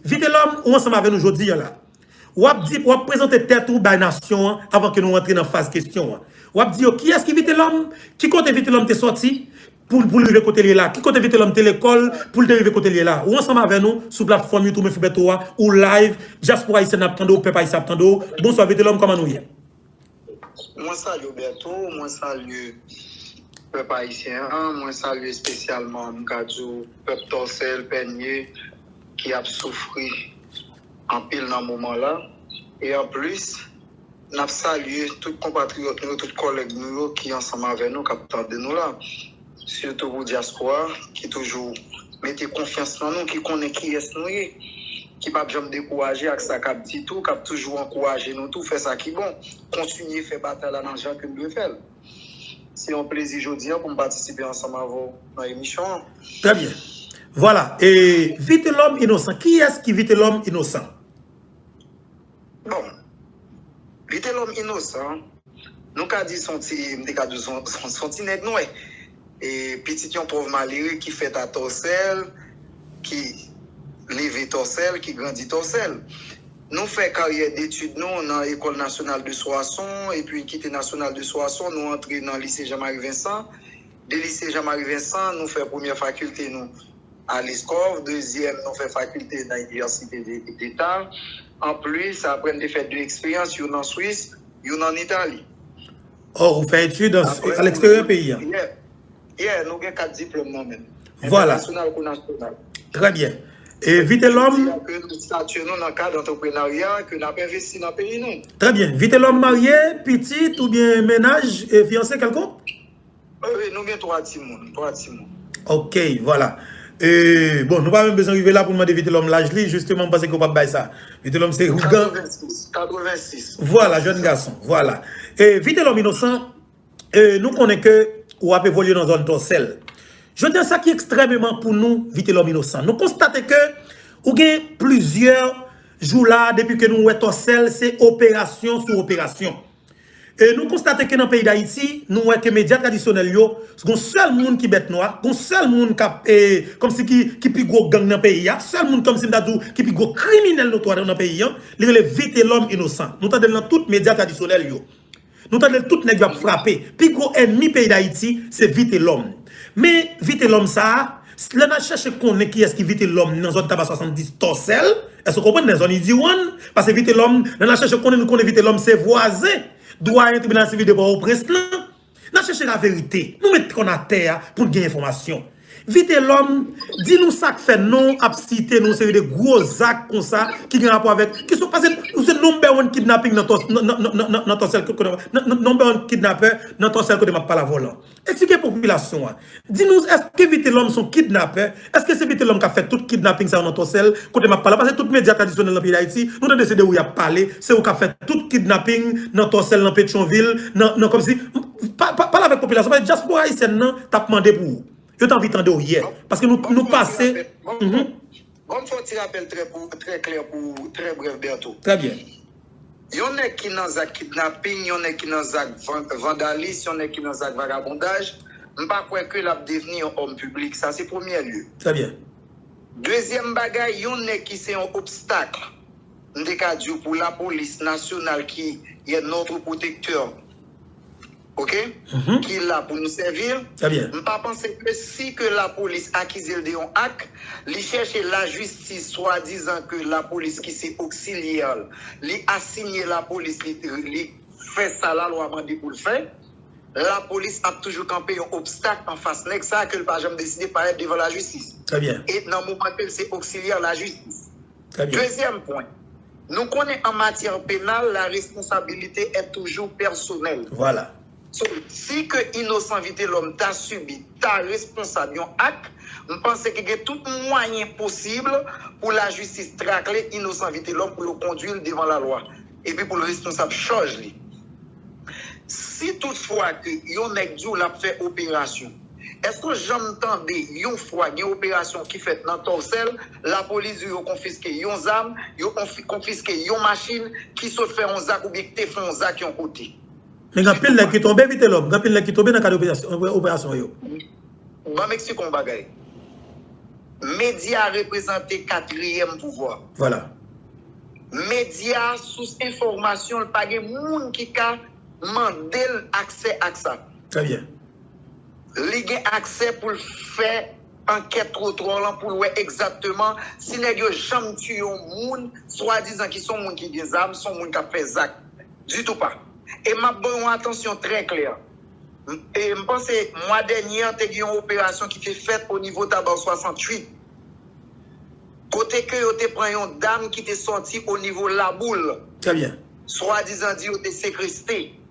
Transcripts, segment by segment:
Vitelòm ou ansanm avè nou jodi an la. W ap di, w ap prezante tèt ou bay nasyon an avan ke nou antre nan faz kesyon an. W ap di yo kiyès ki Vitelòm? Ki kote Vitelòm te sòti pou l rive kote l ye la? Ki kote Vitelòm te lekòl pou l te rive kote l ye la? Ou ansanm avè nou sou platfòm YouTube Mefibèto a, ou live, dyaspora ayisyèn ap tande w, pèp ayisyen ap tande w. Bonswa Vitelòm, kòman nou ye? Mwen salye w Bertho, mwen salye pèp ayisyen an, mwen salye espesyalman m ka di w pèp Tòsèl, Pènye ki ap soufri anpil nan moman la. E anplis, n ap salye tout konpatriyòt nou yo, tout kòlèg nou yo ki ansanm avè nou k ap tande nou la. Sitou pou dyaspora ki toujou mete konfyans nan nou, ki konnen kiyès nou ye, ki pap janm dekouraje ak sa kap di tou, kap toujou ankouraje nou tou fè sa ki bon, kontinye fè batay la nan jan ke n dwe fè l. Se yon plezi jodi an pou m patisipe ansanm avè w nan emisyon an. Trè byen. Vwala. E Vitelòm Inosan, kiyès ki Vitelòm Inosan? Bon. Li te lòm inosan. Nou ka di son ti, m te ka di w son, son, son ti nèg nwè. E pitit yon pòv malere ki fèt a Tòsèl, ki leve Tòsèl, ki grandi Tòsèl. Nou fè karyè detid nou nan Ecole Nationale de Soissons, epi kite Nationale de Soissons, nou antre nan Lycée Jean-Marie Vincent. De Lycée Jean-Marie Vincent, nou fè premyè fakilte nou Alice Corve, dezyèm nou fè fakilte nan inivèsite deta. Anplis, apre n te fè de eksperyans, youn an Swis, youn ann Itali. Oh, ou fè etid a leksteryè peyi a? Yeah. Yeah, nou gen kat diplòm nan men. Vwala. Entènasyonal kou nasyonal. Trè byen. E Vitelòm? Yo di a ke nou statye nou nan kad antreprenarya, ke n ap envesti nan peyi nou. Trè byen. Vitelòm marye, pitit oubyen mennaj, fiyanse kèlkonk? Wi wi nou gen 3 timoun 3 timoun. Ok vwala eee bon nou pa menm bezwen rive la poun mande vitelòm laj li jisteman m panse ke ou pap bay sa vitelòm se ougan 86 86 vwala jèn gason vwala ee vitelòm inosan ee nou konnen ke ou ap evolye nan zòn tòsèl jodi an sa ki ekstrèmeman pou nou vitelòm inosan nou konstate ke ou gen plizyè jou la depi ke nou wè tòsèl se operasyon sou operasyon E nou konstate ke nan peyi Dayiti, nou wè ke medya tradisyonèl yo, s gon sèl moun ki bèt nwa, gon sèl moun k ap e, kòmsi ki, ki pi gwo gang nan peyi a, sèl moun kòmsi m ta di w ki pi gwo kriminèl notwa nan peyi an, li rele Vitelòm Inosan. Nou tande l nan tout medya tradisyonèl yo. Nou tande l tout nèg yo ap frape. Pi gwo ènmi peyi Dayiti, se Vitelòm. Men, Vitelòm sa a. Lè n al chèche konnen kiyès ki Vitelòm nan zòn Taba 70 Tòsèl, èske w konprann, nan zòn Idiwonn, pase Vitelòm, lè n al chèche konnen, nou konnen Vitelòm se vwazen Dwayen Tribinal Sivil de Pòtoprens lan. N al chèche laverite. Nou met kò n atè a pou n gen enfòmasyon. Vitelòm, di nou sa k fè non w ap site nou seri de gwo zak konsa ki gen rapò avèk, ki sou pase nou se number one kidnapping nan Tòsèl, nan number one kidnapper nan Tòsèl kote m ap pale avè w lan. Eksplike popilasyon an. Di nou èske Vitelòm son kidnapè, èske se Vitelòm kap fè tout kidnaping sa yo nan Tòsèl kote map pale la, pase tout medya tradisyonèl nan peyi Dayiti, nou tande se de ou yap pale, se ou kap fè tout kidnaping nan Tòsèl, nan Petyonvil, nan, nan kòmsi, pale avèk popilasyon, pale dyaspora ayisyèn nan tap mande pou ou. Yo te anvi tande ou yè, paske nou, nou pase, humm. Banm fè yon ti rapèl trè kou, trè klè pou ou, trè brèf Bertho. Trè byen. Yon nèg ki nan zak kidnaping, yon nèg ki nan zak vandalis, yon nèg ki nan zak vagabondaj, m pa kwè ke l ap devni yon òm piblik. Sa se premyè lye. Trè byen. Dezyèm bagay, yon nèg ki se yon obstakl, m te ka di w, pou lapolis nasyonal ki yè notre protecteur. ok ki la pou nou sèvi m pa panse ke si ke lapolis akize l de yon ak li chèche lajistis swadizan ke lapolis ki se oksilyè l li asinye lapolis li fè sa lalwa mande pou l fè lapolis ap toujou kanpe yon obstak anfas nèg sa ke l pa janm deside parèt devan lajistis e nan moman ke l se oksilyè lajistis. Dezyèm pwen, Nou konnen an matyè penal la responsabilite è toujou pèsonèl. Vwala. So, di ke inosan Vitelòm ta sibi, ta responsab yon ak, m panse ke gen tout mwayen posib pou lajistis trakle inosan Vitelòm pou yo kondwi l devan lalwa epi pou l responsab chaj li. Si tout fwa ke yon nèg di w l ap fè operasyon, Eske w janm tande yon fwa gen operasyon ki fèt nan Tòsèl, lapolis di w yo konfiske yon zam, yo konfiske yon machin ki sot fè yon zak oubyen ki te fè yon zak yon kote? Men gen anpil nèg ki tonbe Vitelòm, gen anpil nèg ki tonbe nan kad operasyon yo. Ban m eksplike w yon bagay. Medya reprezante katriyèm pouvwa. Vwala. Medya, sous enfòmasyon l, pa gen moun ki ka mande l aksè ak sa. Trè byen. Li gen aksè pou l fè ankèt twotwa w lan pou l wè egzatteman si nèg yo janm tiye yon moun swadizan ki se yon moun ki gen zam, se yon moun k ap fè zak. Ditou pa. E m ap ban w yon atansyon trè klè. M panse mwa dènye an te gen yon operasyon ki te fèt onivo Tabar 68 kote ke yo te pran yon dam ki te sòti onivo Laboul, swadizan di yo te sekreste.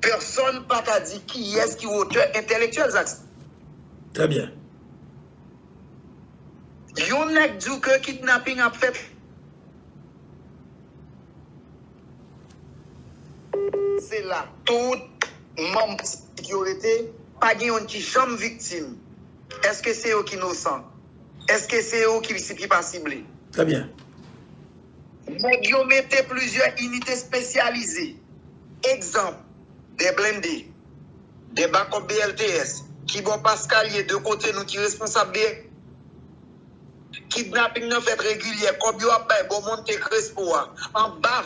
Pèsòn pa ka di kiyès ki otè entèlektyèl zak sa. Trè byen. Yon nèg di w ke kidnaping ap fèt. Se la tout manm politik yo rete. Pa gen youn ki janm viktim. Èske se yo ki nosan? Èske se yo ki sibi pa sible? Trè byen. Nèg yo mete plizyè inite espesyalize, egzanp, 2 blende, 2 bakòp BLTS, ki bò Paskal ye, 2 kote nou ki responsab de. Kidnaping nan fèt regilyè, kòb yo ap bay bò Monte Crespo a, anba.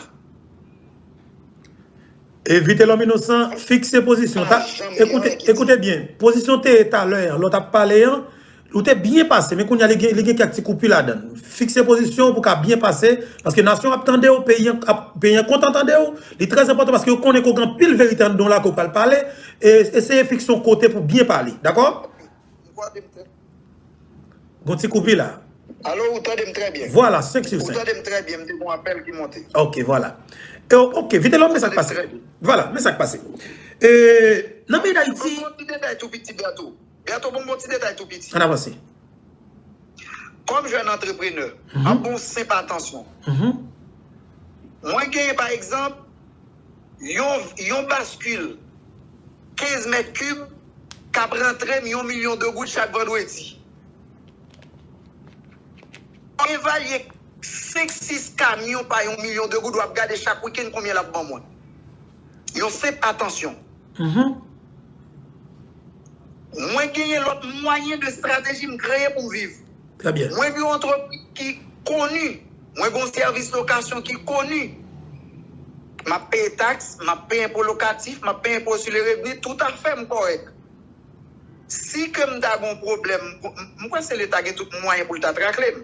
E Vitelòm Inosan fikse pozisyon, ta, ekoute, ekoute byen, pozisyon te ye talè an, lò tap pale an, Ou te byen pase men kounya li gen kèk ti koupi ladann. Fikse pozisyon w pou ka byen pase paske nasyon an ap tande w, peyi an kontan tande w. Li trè enpòtan paske yo konnen ke w gen anpil verite anndan w la ke w pral pale. Eseye fikse yon kote pou byen pale. Dakò? Gon ti koupi la. Alo, ou tande m trè byen? Vwala, senk sou senk. Ou tande m trè byen, m te gen yon apèl ki monte. Ok, vwala. Ok, Vitelòm men sa k pase. Vwala, men sa k pase. Nan peyi Dayiti. Mwen konn ti detay tou piti gato. Bertho bon bon ti detay tou piti. An avanse. Kòm jèn antreprenè, an bon senp atansyon. Mwen genyen pa egzanp yon yon baskil 15 mèt kib k ap rantre m yon milyon de goud chak vandredi. Evalye 5, 6 kamyon pa yon milyon de goud w ap gade chak wikenn konbyen l ap ban mwen. Yon senp atansyon. Mwen genyen lòt mwayen de strateji m kreye pou viv. Mwen gen yon antrepriz ki koni. Mwen gen yon sèvis lokasyon ki koni. M ap peye taks, m ap peye enpo lokatif, m ap peye enpo sou le revni, toutafè m kòrèk. Si ke m ta gen yon pwoblèm, m kwè se leta gen tout mwayen pou l ta trakle m.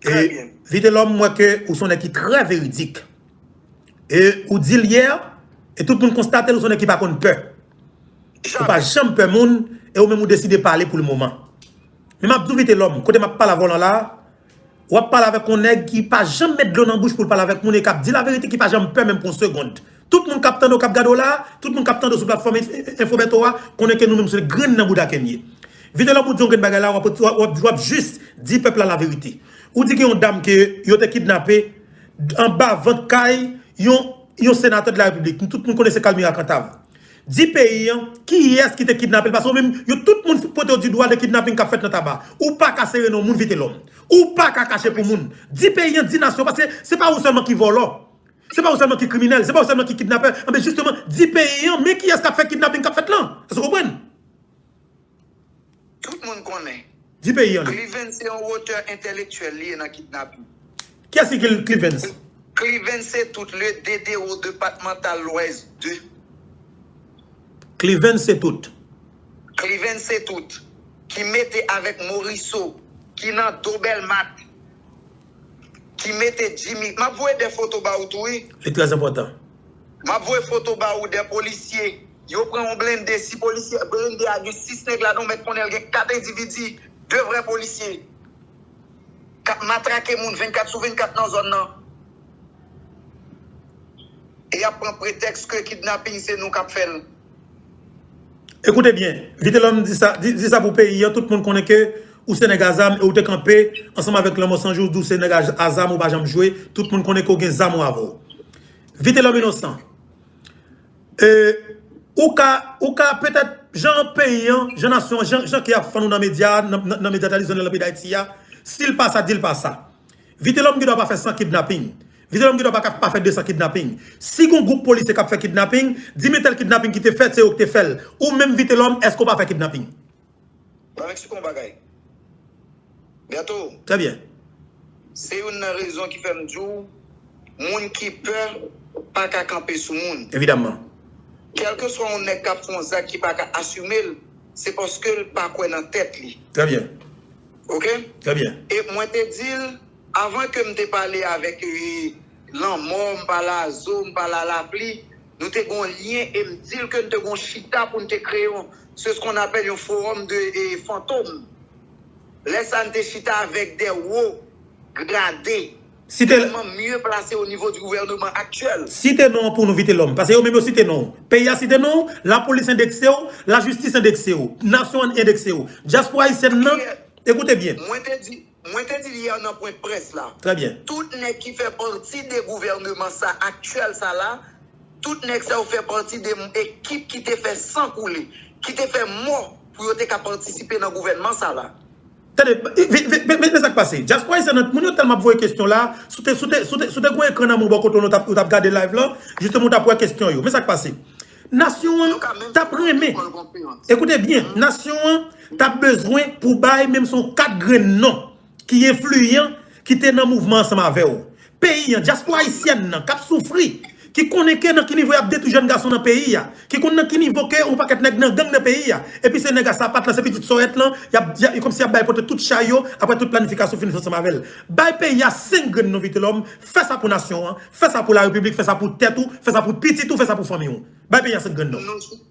Trè byen. Vitelòm m wè ke ou son nèg ki trè veridik. E ou dil yè, e tout moun konstatel ou son nèg ki pa konn pè. Ou pa janm pè moun e ou menm ou deside pale pou le moman. Men map diw Vitelòm, kote map pale avèw lan la, wap pale avèk yon nèg ki pa janm met dlo nan bouch poul pale avèk moun e kap di laverite ki pa janm pè menm pou yon segond. Tout moun kap tande w kap gade w la, tout moun kap tande w sou platfòm info Bertho a, konnen ke nou menm se grenn nan bouda Keny ye. Vitelòm ou di yon grenn bagay la wap jis di pèp la la verite. Ou di gen yon dam ke yo te kidnape anba vant kay yon senatè de la repiblik. Nou tout moun konnen se Kalmira Kantav. Di peyi an kiyès ki te kidnape l paske ou menm yo tout moun pote w di dwa de kidnaping kap fèt nan taba. Ou paka sere non moun Vitelòm. Ou paka kache pou moun. Di peyi an, di nasyon paske se pa ou sèlman ki vòlò. Se pa ou selman ki kriminel, se pa ou selman ki kidnapè, anben jisteman di peyi an men kiyes kap fè kidnaping kap fèt lan. Eske ou konprann? Tout moun konnen. Di peyi an non. Clivens se yon wotè entèlektyèl li ye nan kidnaping. Kiyes ki clivens? Clivens se tout le dedero depatmantal lwès 2. Clivens se tout. Clivens se tout. Ki mete avek Moriso. Ki nan do belmat. Ki mete Jimmy. Map voye de foto ba ou tou wi. Li trè enpòtan. Map voye foto ba ou de polisye. Yo pran yon blende 6 polisye. Blende a gen 6 nèg ladan ou mèt konnen l gen 4 endividi 2 vrè polisye. Kap matrake moun 24 sou 24 nan zòn nan. E yap pran pretèks ke kidnaping se nou kap fè l. Écoutez bien, Vitelhomme di sa, di sa pou peyi an, tout moun konnen ke ou se nèg a zam e ou te kanpe ansanm avèk lanmò san jou di w se nèg a zam ou pa janm jwe, tout moun konnen ke w gen zam ou avè w. Vitelhomme Innocent, ou ka, ou ka petèt jan peyi an, jan nasyon an, jan ke y ap fann ou nan medya, nan medya tradisyonèl nan peyi Dayiti a, si l pa sa, di l pa sa. Vitelòm gen dwa pa fè 100 kidnaping. Vitelòm gen dwa pa ka pa fè 200 kidnaping. Si gon gwoup polisye k ap fè kidnaping, di men tèl kidnaping ki te fèt, se yo ki te fè l. Ou menm Vitelòm, èske ou pa fè kidnaping? Mwen eksplike w yon bagay. Bertho. Trè byen. Se youn nan rezon ki fè m di w, moun ki pè pa ka kanpe sou moun. Evidamman. Kèlkeswa yon nèg k ap fè yon zak ki pa ka asime l, se paske l pa kwè nan tèt li. Trè byen. Ok e mwen te dil avan ke m te pale avek e lanmò m pale a zo m pale a lapli nou te gon lyen e m dil ke n te gon chita pou n te kreye yon se s kon apèl yon forum de e fantom lè sa n te chita avek de wo grade. Site. Tèlman mye plase o nivo di gouvèneman aktyèl. Site non an pou nou Vitelòm. Pase yo menm yo site non ou. Peyi a site non ou, lapolis endekse ou, lajistis endekse ou, nasyon an endekse ou. Dyaspora ayisyèn nan, ekoute byen. Mwen te di, mwen te di l yè nan pwen près la. Trè byen. Tout nèg ki fè pati de gouvèneman sa aktyèl sa la, tout nèg sa yo fè pati de ekip ki te fè san koule, ki te fè mò pou yo te ka patisipe nan gouvènman sa la. Tande, men sa k pase. Dyaspora ayisyen an, moun yo tèlman ap voye kesyon la, si w te, si w te, si w te, si w te gen yon ekran nan men w bò kote w la, ou t ap gade live lan, jisteman ou t ap wè kesyon yo. Men sa k pase. Nasyon an t ap renmen, ekoute byen, nasyon an t ap bezwen pou w bay menm si w 4 grenn non ki enfliyan, ki te nan mouvman ansanm avè w. peyi an, dyaspora ayisyèn nan kap soufri, ki konnen ke nan ki nivo yap detwi jèn gason nan peyi a, ki konn nan ki nivo ke yon pakèt nèg nan gang nan peyi a, epi se nèg a sapat lan, se pitit sòrèt lan, yap, e kòmsi yap bay pote tout chay yo, aprè tout planifikasyon fin fèt ansanm avèl. Bay peyi a 5 grenn non Vitelòm, fè sa pou nasyon an, fè sa pou la repiblik, fè sa pou tèt ou, fè sa pou pitit ou, fè sa pou fanmi ou. Bay peyi a 5 grenn non.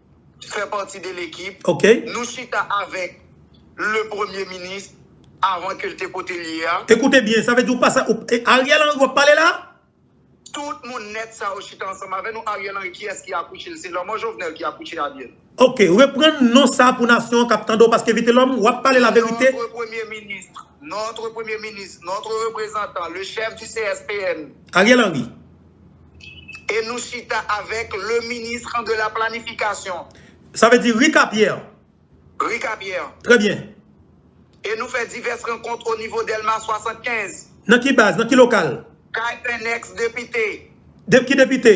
fè pati de lekip. Ok. Nou chita avèk le premye minis avan ke l te kote l ye a. Ekoute byen, sa vle di ou pa sa, e Ariel Henry w ap pale la? Tout moun nèt sa yo chita ansanm avè nou. Ariel Henry kiyès ki akouche l? Se lanmò Jovenel ki akouche Ariel. Ok, reprann non sa pou nasyon an k ap tande w paske Vitelòm w ap pale laverite. Notre premye minis, notre premye minis, notre reprezantan, le chèf di CSPN. Ariel Henry. E nou chita avèk le ministre de la planification. Sa vle di Rika Pierre. Rika Pierre. Trè byen. E nou fè divès rankont o nivo Dèlma 75. Nan ki baz? Nan ki lokal? Kay un ex depite. Ki depite?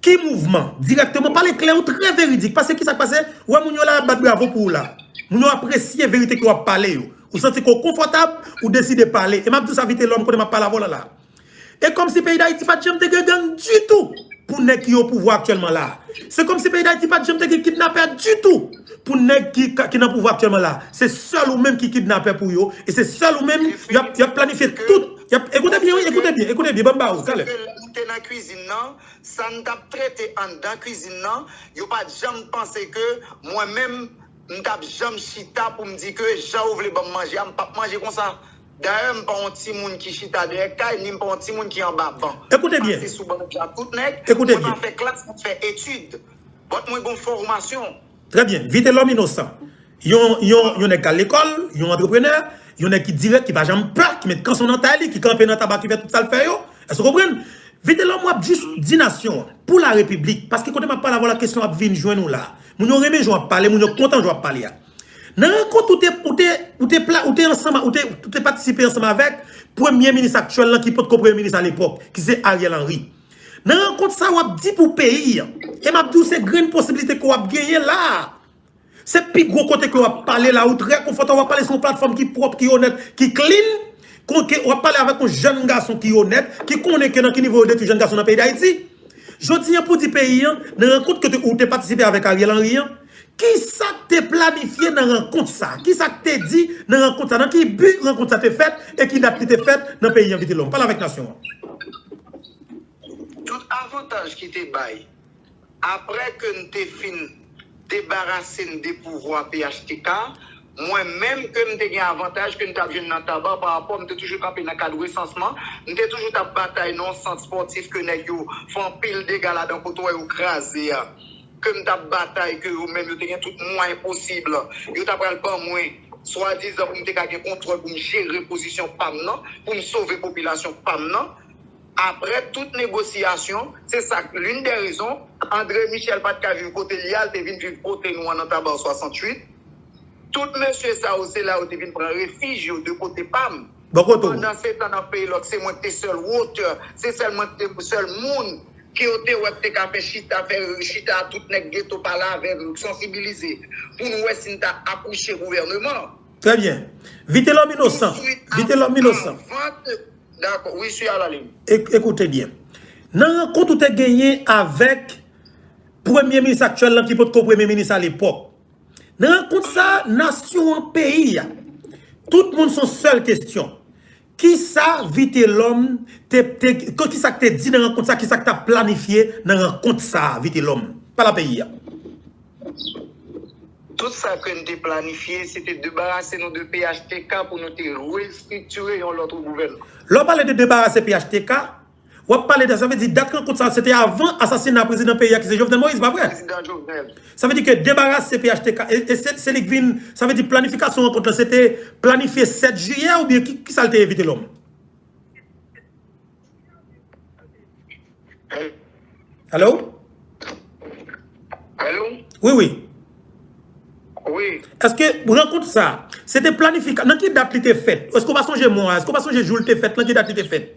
Ki mouvman? Dirèkteman pale klè ou trè veridik pase kisa k pase ou wè moun yo la ap bat bravo pou ou la moun yo apresye verite ke wap pale yo ou santi ke w konfòtab ou deside pale e map di w sa Vitelòm konnen map pale avè w la la e kòm si peyi Dayiti pat janm te gen gang ditou pou nèg ki o pouvwa aktyèlman la se kòm si peyi Dayiti pat janm te gen kidnapè ditou pou nèg ki nan pouvwa aktyèlman la se sèl ou menm ki kidnapè pou yo e se sèl ou menm yap planifye tout yap ekoute byen wi ekoute byen ekoute byen banm ba ou talè. Sa n t ap trete anndan kizin nan, yo pa t janm panse ke mwen menm m t ap janm chita pou m di ke jan yo vle ban m manje a m p ap manje konsa. Dayè m pa yon timoun ki chita dèyè kay ni m pa yon timoun ki anba ban. Mwen pase sou ban jan tout nèg, mwen pa fè klas, m ap fè etid. Bòt mwen gen yon fòmasyon. Trè byen. Vitelòm Inosan. Yon nèg k al lekòl, yon antreprenè, yon nèg ki dirèk, ki pa janm pè, ki met kanson nan tay li, ki kanpe nan taba, ki fè tout sa l fè yo. Èske w konprann? Vitelòm, w ap jis di nasyon an, pou larepiblik, paske kote m ap pale avè w la, kesyon an ap vin jwenn ou la. Moun yo renmen jan w ap pale, moun yo kontan jan w ap pale a. Nan rankont ou te ansanm, ou te patisipe ansanm avèk premye minis aktyèl lan ki potko premye minis alepòk, ki se Ariel Henry. Nan rankont sa a, w ap di pou peyi an, e m ap di w se grenn posibilite ke w ap genyen la a, Se pi gwo kote ke wap pale la ou trè konfòtab wap pale sou yon platfòm ki pwòp ki onèt ki klin konke wap pale avèk yon jèn gason ki onèt ki konnen ke nan ki nivo yo detwi jèn gason nan peyi dayiti jodi an pou di peyi an nan rankont ke ou te patisipe avèk Ariel Henry an kisak te planifye nan rankont sa kisak te di nan rankont sa nan ki bi rankont sa te fèt e ki dat li te fèt nan peyi an vitelòm pale avèk nasyon an. Tout avantaj ki te bay. Aprè ke n te fin debarase n de pouvwa phtk, mwen menm ke m te gen avantaj ke n t ap jwenn nan Taba parapò m te toujou kanpe nan kad resansman, m te toujou t ap batay nan yon sant spòtif ke nèg yo fè anpil dega ladan kote w wè yo kraze a, ke m t ap batay ke yo menm yo te gen tout mwayen posib yo ta pral ban mwen swadizan pou m te ka gen kontwòl pou m jere pozisyon pa m nan, pou m sove popilasyon pa m nan. Aprè tout negosiyasyon, se sa k lin dè rezon André Michel pa t ka viv kote li a, l te vin viv kote nou an nan Tabar 68. Tout mesye sa yo, se la yo te vin pran refij yo de kote pa m. Pandansetan nan Peyilòk, se mwen k te sèl wotè, se sèl mwen k te sèl moun ke yo te wè k te ka fè chita, fè chita a tout nèg geto pale avè m, sansibilize pou n wè si n ta akouche gouvèneman. Trè byen. Vitelòm inosan. Vitelòm inosan. Touswit avan vant D'accord, oui suis à la ligne. Écoutez bien. Nan rankont ou te genyen avèk premye minis aktyèl lan ki pot ko premye minis alepòk. Nan rankont sa a, nasyon an, peyi a, tout moun son sèl kestyon. Ki sa Vitelòm te, ki sa k te di nan rankont sa a, ki sa k ta planifye nan rankont sa a Vitelòm? Pale a peyi a. Tout sa ke n te planifye, se te debarase nou de phtk pou nou te restriktire yon lòt gouvènman. Lè w pale de debarase phtk, w ap pale de, sa vle di dat rankont sa a se te avan asasina prezidan peyi a ki se Jovenel Moïse, pa vre? Prezidan Jovenel. Sa vle di ke debarase phtk, e se li k vin, sa vle di planifikasyon rankont la se te planifye 7 jiyè oubyen ki sa l te evite lòm? Alo? Alo? Wi, wi. Wi. Eske rankont sa, se te planifika, nan ki dat li te fèt? Eske ou pa sonje mwa, eske ou pa sonje jou li te fèt, nan ki dat li te fèt?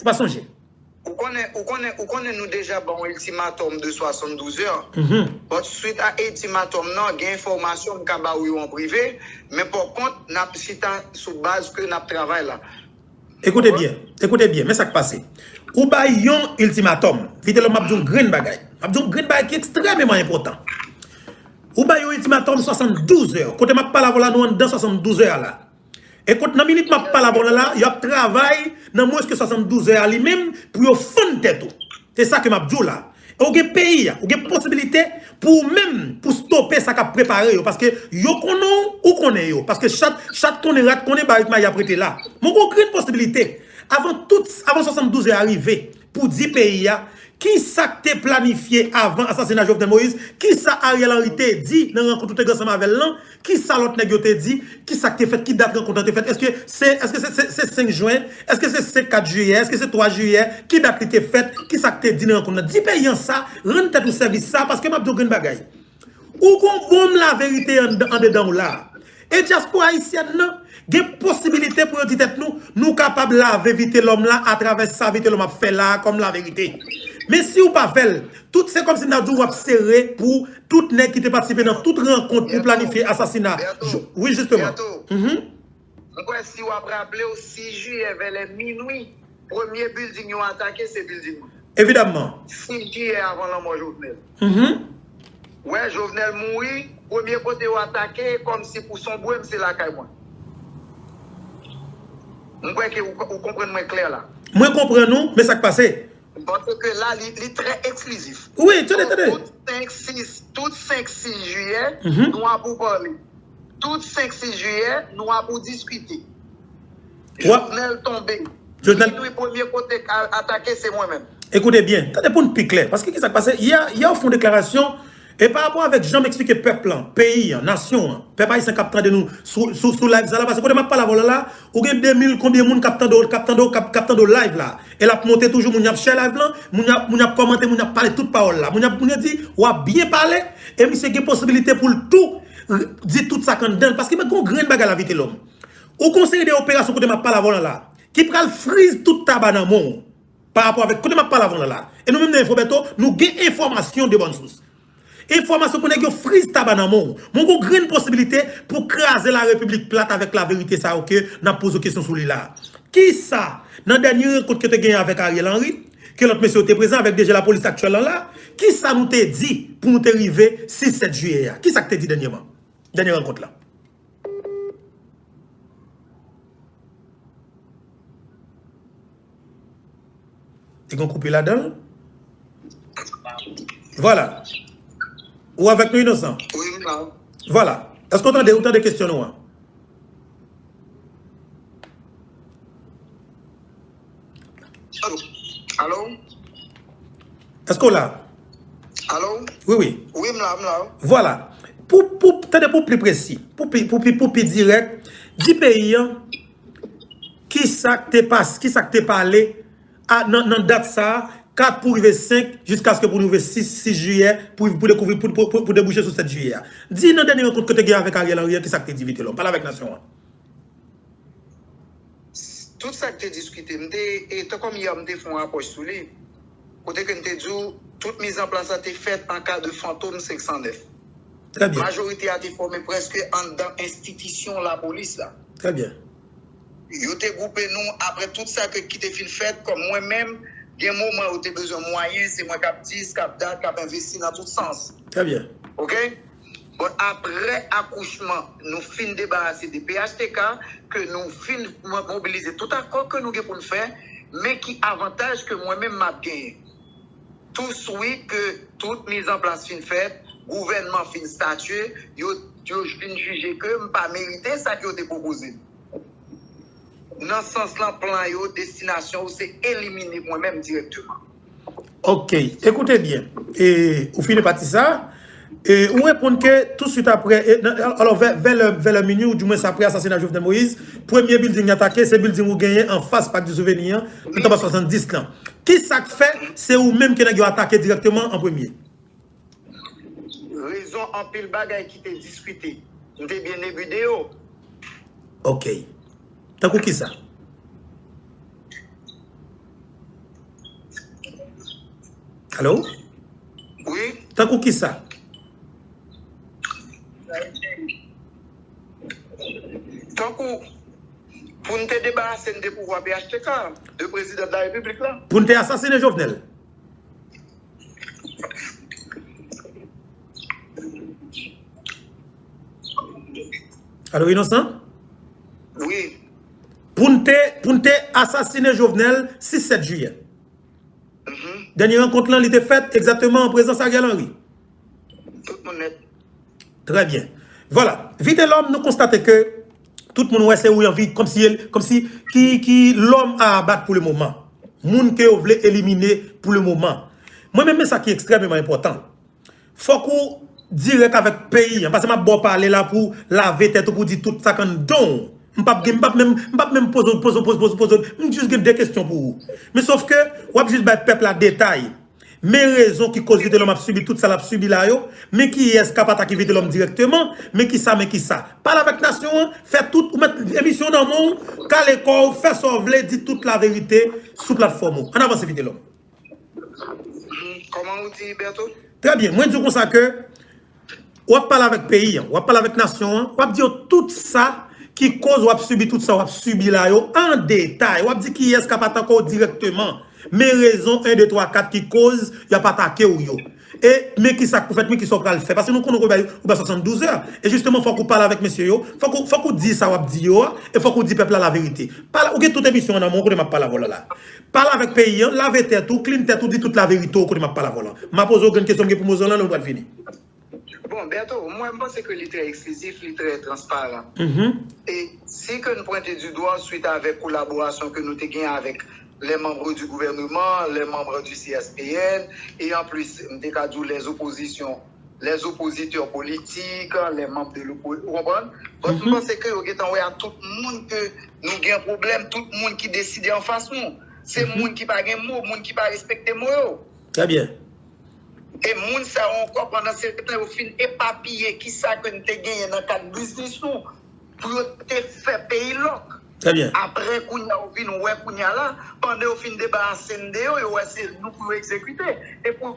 Ou pa sonje? Ou konnen, ou konnen, ou konnen nou deja ba w iltimatòm de 72 è, but swit a iltimatòm nan, gen enfòmasyon m ka ba ou yo an prive, men pò kont, n ap chita sou baz ke n ap travay la. Ekoute byen, ekoute byen, men sa k pase. Ou ba y yon iltimatòm, Vitelòm m ap di w yon grenn bagay, m ap di w yon grenn bagay ki ekstrèmeman enpòtan. Ou ba y yon iltimatòm 72 è, kote m ap pale avè w la nou anndan 72 è a la. Ekot nan minit map pale avèw la la yo ap travay nan mwens ke 72 è a li menm pou yo fann tèt ou. Se sa ke map diw la. E ou gen peyi a, ou gen posibilite pou ou menm pou stope sa kap prepare yo paske yo konnen w ou konnen yo paske chat chat konnen rat konnen barik mayi ap rete la. Men ou gen yon grenn posibilite avan tout avan 72 è a rive Pou di peyi a, kisa k te planifye avan asasina Jovenel Moïse, kisa Ariel Henry te di nan rankont ou te gen ansanm avè l lan, kisa lòt nèg yo te di, kisa k te fèt, ki dat rankont lan te fèt, èske se 5 jwen, èske se 5 4 jiyè, èske se 3 jiyè, ki dat li te fèt, kisa k te di nan rankont lan. Di peyi an sa, rann tèt ou sèvis sa, paske m ap di w grenn bagay. Ou gon bonm la verite andedan w la. E dyaspora ayisyèn nan gen posibilite pou yo di tèt nou, nou kapab lave Vitelòm la atravè sa Vitelòm ap fè la a kòm laverite. Men si ou pa fè l, tout se kòmsi n ta di w ap sere pou tout nèg ki te patisipe nan tout rankont pou planifye asasina, wi jisteman. M kwè si w ap raple w 6 jiyè vè lè minwi, premye bilding yo atake se bilding mwen. Evidamman. 6 jiyè avan lanmò Jovenel. Ou wè, Jovenel mouri, premye kote yo atake kòmsi pou sonbwe m se lakay mwen. M kwè ke ou konprann mwen klè la. Mwen konprann ou, men sa k pase? Panse ke la li trè eksklizif. Wi, tande, tande. Tout 5, 6, tout 5, 6 jiyè, nou ap ou pale. Tout 5 6 jiyè nou a pou diskite. Jovenel tonbe. Jovenel tonbe premye kote kal atake se mwen menm. Ekoute byen, tande poun pi klè. Paske kisa k pase, yè yè ou fon deklarasyon e pa rapò avèk janm eksplike pèp lan, peyi an, nasyon an, pèp ayisyen kap tande nou sou sou live sa la paske kote map pale avèw la la ou gen 2000 konbyen moun kap tande w kap tande w kap tande w live la e lap monte toujou moun yap share live lan moun yap moun yap kòmante moun yap pale tout pawòl la moun yap moun yo di wap byen pale e misye gen posibilite poul tou Di tout sa k anndan l paske mwen gon grenn bagay lavi telòm ou gon seri de operasyon kote map pale avè w la la ki pral friz tout taba nan men w pa rapò avèk kote map pale avè w la la e nou menm nan Infobeto nou gen enfòmasyon de bòn sous enfòmasyon pou nèg yo friz taba nan men w mwen gon grenn posibilite pou kraze la repiblik plat avèk la verite sa yo ke nap poze w kesyon sou li la a kisa nan dènye rankont ke te genyen avèk Ariel Henry Ke lòt mesye yo te prezan avèk DG lapolis aktyèl lan la. Kisa nou te di pou nou te rive 6, 7 jiyè a? Kisa k te di dènyèman? Dènyè rankont la? Te gen yon koupe ladan l? Vwala. Ou avèk nou Inosan? Wi, m la. Vwala. Èske ou tande, ou tande kesyon nou an? Alo? Eske w la? Alo? Wi, wi. Wi, m la, m la. Vwala. Pou, pou, tande pou pli presi. Pou pli, pou pli, pou pli direk. Di peyi an, ki sa k te pas, ki sa k te pale a nan, nan dat sa a, 4 pou rive 5, jiska ske pou rive 6, 6 jiyè, pou, pou dekouvri, pou, pou, pou debouche sou 7 jiyè a. Di nan dènye rankont ke w te gen avèk Ariel Henry a, ki sa k te di Vitelòm? Pale avèk nasyon an. Tout sa ki te diskite, m te, e tan kòm yè a m te fè yon apwòch sou li, kote ke m te di w tout mizanplas la te fèt an ka de fantom 509. Trè byen. Majorite a te fòme prèske anndan enstitisyon lapolis la. Trè byen. Yo te gwoupe nou apre tout sa ke ki te fin fèt, kòm mwen menm, gen moman yo te bezwen mwayen, se mwen k ap di, s k ap dat, k ap envesti nan tout sans. Trè byen. Ok? Bon aprè akouchman nou fin debarase de phtk ke nou fin mobilize tout akò ke nou gen poun fè men ki avantaj ke mwen menm map genyen tou swi ke tout miz an plas fin fèt gouvènman fin statye yo fin jije ke m pa merite sa ke yo te pwopoze m nan sans lan plan yo destinasyon yo se elimine mwen menm direkteman. Ok, écoutez bien, e ou fini pati sa, e ou reponn ke touswit apre, e nan, alò vè, vè lè, vè lè minwi ou di mwens apre asasina Jovenel Moïse, premye bilding yo atake se bilding ou genyen anfas Pak di Souveni an, antanba 70 lan. Ki sa k fè se ou menm ke nèg yo atake dirèkteman an premye? Rezon anpil bagay ki te diskite. M te byen nebude yo. Ok. Tankou kisa? Alo? Wi. Tankou kisa? Tankou pou n te debarase n de pouvwa phtk, de prezidan de la repiblik la. Pou n te asasine Jovenel. Alo inosan? Wi. Poun te, poun te asasine Jovenel 6-7 jiyè. Dènye renkont lan li te fèt egzateman an prezans Ariel Henry. Tout moun nèt. Trè byen. Vwala. Vitelòm nou konstate ke tout moun wè se ou y anvi kòm si kòm si ki ki lòm a abat pou le moman. Moun ke yo vle elimine pou le moman. Mwen menm men sa ki ekstrèmeman enpòtan. Fòk ou dirèk avèk peyi an. Pase m ap ba w pale la pou w lave tèt ou pou w di tout sa k anndan w. M p ap gen m p ap menm m p ap menm poze w poze w poze w poze w poze w. M jis gen de kesyon pou ou. Men sof ke w ap jis bay pèp la detay. Men rezon ki koz Vitelòm ap sibi tout sa lap sibi la yo, men kiyès kap atake Vitelòm dirèkteman, men kisa men kisa. Pale avèk nasyon an, fè tout, ou mèt emisyon nan men w, kale kò w, fè sa w vle, di tout laverite sou platfòm ou. Ann avanse Vitelòm. Kòman ou di Bertho? Trè byen, mwen di w konsa ke. Wap pale avèk peyi an, wap pale avèk nasyon an, wap di yo tout sa ki koz wap sibi tout sa wap sibi la yo an detay, wap di kiyès kap atake w dirèkteman, men rezon 1, 2, 3, 4 ki koz yap atake w yo, e men kisa k pou fèt, men kisa w pral fè, paske nou konnen ou bay ou bay 72 zè, e jisteman fòk ou pale avèk mesye yo, fòk ou fòk ou di sa wap di yo a, e fòk ou di pèp la laverite, pale ou gen tout emisyon an nan men w kote map pale avè w la la. Pale avèk peyi an, lave tèt ou, clean tèt ou, di tout laverite ou kote map pale avè w lan. Map poze w grenn kesyon m gen pou m poze w lan lè nou pral fini. Bon, Bertho, mwen m panse ke li trè eksklizif, li trè transparan. E si ke n pwente du dwa swit avèk kolaborasyon ke nou te gen avèk les membres du gouvernement, les membres du CSPN, e anplis m te ka di w les oppositions, les oppositeurs politiques, les membres de l'opposition, ou konprann? But m panse ke yo gentan wè a tout moun ke nou gen pwoblèm, tout moun ki deside anfas nou. Se moun ki pa gen mo, moun ki pa respekte mo yo. Trè byen. E moun sa yo ankò pandan se tan yo fin epapiye ki sa ke n te genyen nan kad biznis nou pou yo te fè peyi lòk. Trè byen. Aprè kounya yo vin wè kounya la, pandan yo fin debarase n de yo, yo wè se nou pou yo egzekite. E pou.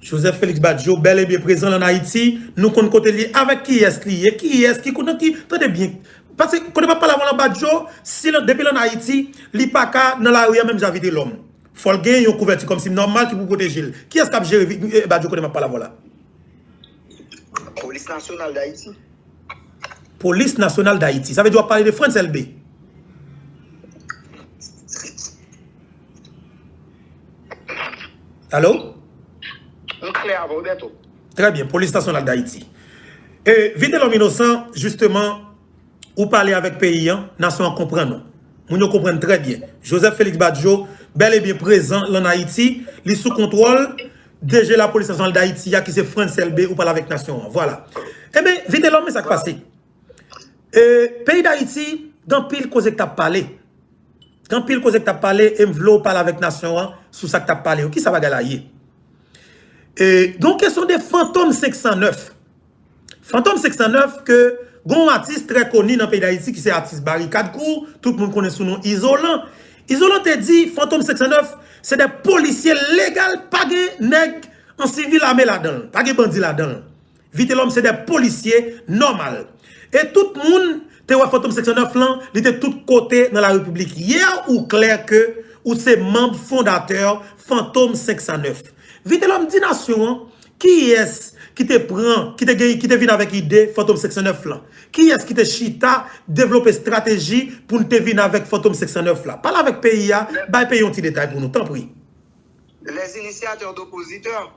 Joseph Felix Badio bel e byen prezan lan Ayiti, nou konn kote li ye, avek kiyes li ye, kiyes ki nan ki, tande byen, pase kote map pale avan lan Badio si lan depi lan Ayiti li paka nan lari an menm jan Vitelòm, fòl gen yon kouvèti kòmsi nòmal ki pou pwotejel, kiyes kap jere Badio kote map pale avan la? Polis nasyonal Dayiti. Polis nasyonal Dayiti, sa vle di wap pale de Frantz Elbe? Alo? M pale avè w Bertho. Trè byen, polis nasyonal Dayiti. E Vitelòm Inosan, jisteman, ou pale avèk peyi an, nasyon an konprann ou. Moun yo konprann trè byen. Joseph Felix Badio bèl e byen prezan lan Ayiti, li sou kontwòl DG lapolis nasyonal Dayiti a ki se Frantz Elbé ou pale avèk nasyon an. Vwala. Enben, Vitelòm men sa k pase. Peyi dayiti gen anpil koze k tap pale Gen anpil koze k tap pale e m vle w pale avèk nasyon an sou sa k tap pale yo Kisa bagay la ye Gen yon kesyon de fantom 509 Fantom 509 ke gen yon atis trè koni nan peyi dayiti ki se atis barikad kou tout moun konnen sou non izolan Izolan te di fantom 509 se de polisye legal pa gen nèg an sivil ame ladan l pa gen bandi ladan l Vitelòm se de polisye nòmal. E tout moun te wè fantom seksyon 9 lan li te tout kote nan la repiblik yè ou klè ke ou se manb fondatè fantom 509 vitelòm di nasyon an kiyès ki te pran ki te gen ki te vin avèk ide fantom seksyon 9 lan kiyès ki te chita devlope strateji poun te vin avèk fantom 509 la pale avèk peyi a bay peyi yon ti detay pou nou tanpri. Les initiateurs d'oppositeurs.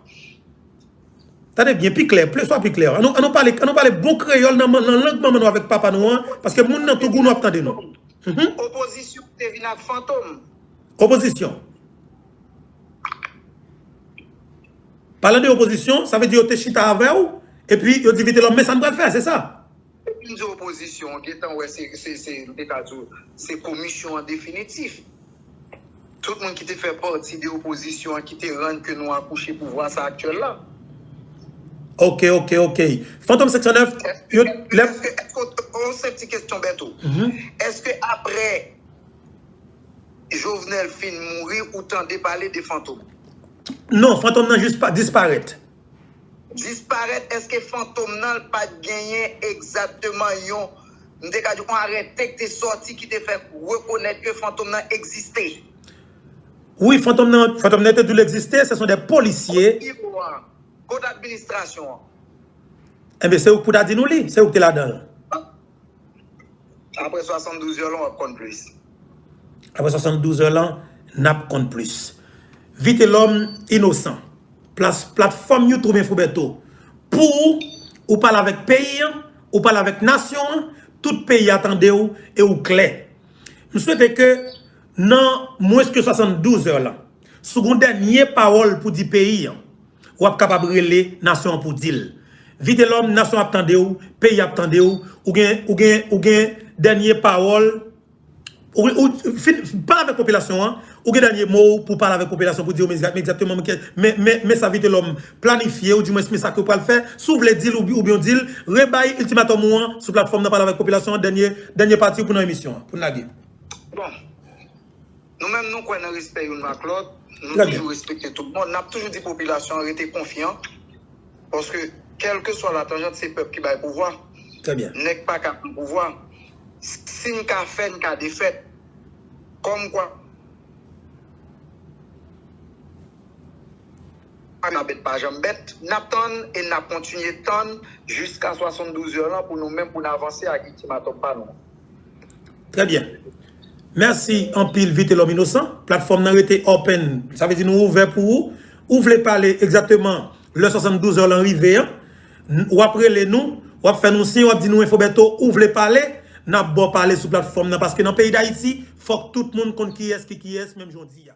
Tande byen, pi klè, plis fwa pi klè. An nou pale, an nou pale bon kreyòl nan lang manman nou avèk papa nou an, paske moun nan Togo nou ap tande nou. Opozisyon te vin ak fantom. Opozisyon. Palan de opozisyon, sa vle di yo te chita avè ou, epi yo di Vitelòm men sa n pral fè, se sa? Depi m di opozisyon, w gentan wè se, se, se, m te ka di w, se komisyon an definitif. Tout moun ki te fè pati de opozisyon an ki te rann ke nou akouche pouvwa sa aktyèl la. Ok, ok, ok. Fantom 509, yo, lè. Eske, eske, yon senp ti kesyon Bèto. Eske aprè Jovenel fin mouri, ou tande pale de Fantom? Non, Fantom nan jis disparèt. Disparèt eske fantom nan l pat genyen egzatteman yon m te ka di yon arète k te sòti ki te fè rekonèt ke fantom nan egziste? Wi fantom nan fantom nan yo te di l egziste se son de polisye. Kot ki ou an? Kot administrasyon an? Enben se ou k pou ta di nou li, se ou k te ladan l. Apre 72 zè lan wap konn plis. Apre 72 zè lan nap konn plis. Vitelom inosan. Platfom youtube info bertho pou ou ou pale avek peyi an ou pale avek nasyon an tout peyi a tande ou e ou kle. M swete ke nan mwens ke 72 zè lan si w gen yon denye pawol pou di peyi an Wap kapab rele nasyon an pou dil. Vitelòm nasyon ap tandew, peyi ap tandew, ou gen ou gen ou gen dènye pawòl ou fin pale avèk popilasyon an, ou gen dènye mo w pou pale avèk popilasyon pou di yo men egzakteman men kè men men men sa Vitelòm planifye ou di mwens men sa ke pral fè, si w vle dil ou byen w dil, rebay iltimatòm ou an sou platfòm nan pale avèk popilasyon an dènye dènye pati w pou nan emisyon an pou n lage. Bon. Nou menm nou kwè nan respè youn ak lòt, nou toujou respekte tout moun, nap toujou di popilasyon an rete konfyan paske kèlkeswa latanjant se pèp ki bay pouvwa, nèg paka pran pouvwa, si n ka fè n ka defè, kòmkwa. Anabèt pa janm bèt, n ap tann e n ap kontinye tann jiska 72 zè lan pou nou menm pou n avanse ak itimatòm pa nou an. Trè byen. Mèsi anpil Vitelòm Inosan. Platfòm nan rete open, sa vle di nou ouvè pou ou. Ou vle pale egzakteman lè 72 zè lan rive an, w ap rele nou, w ap fè nou siy, w ap di nou Info Bertho ou vle pale, n ap ba w pale sou platfòm nan paske nan peyi Dayiti fòk tout moun konn kiyès ki kiyès menm jan w di a.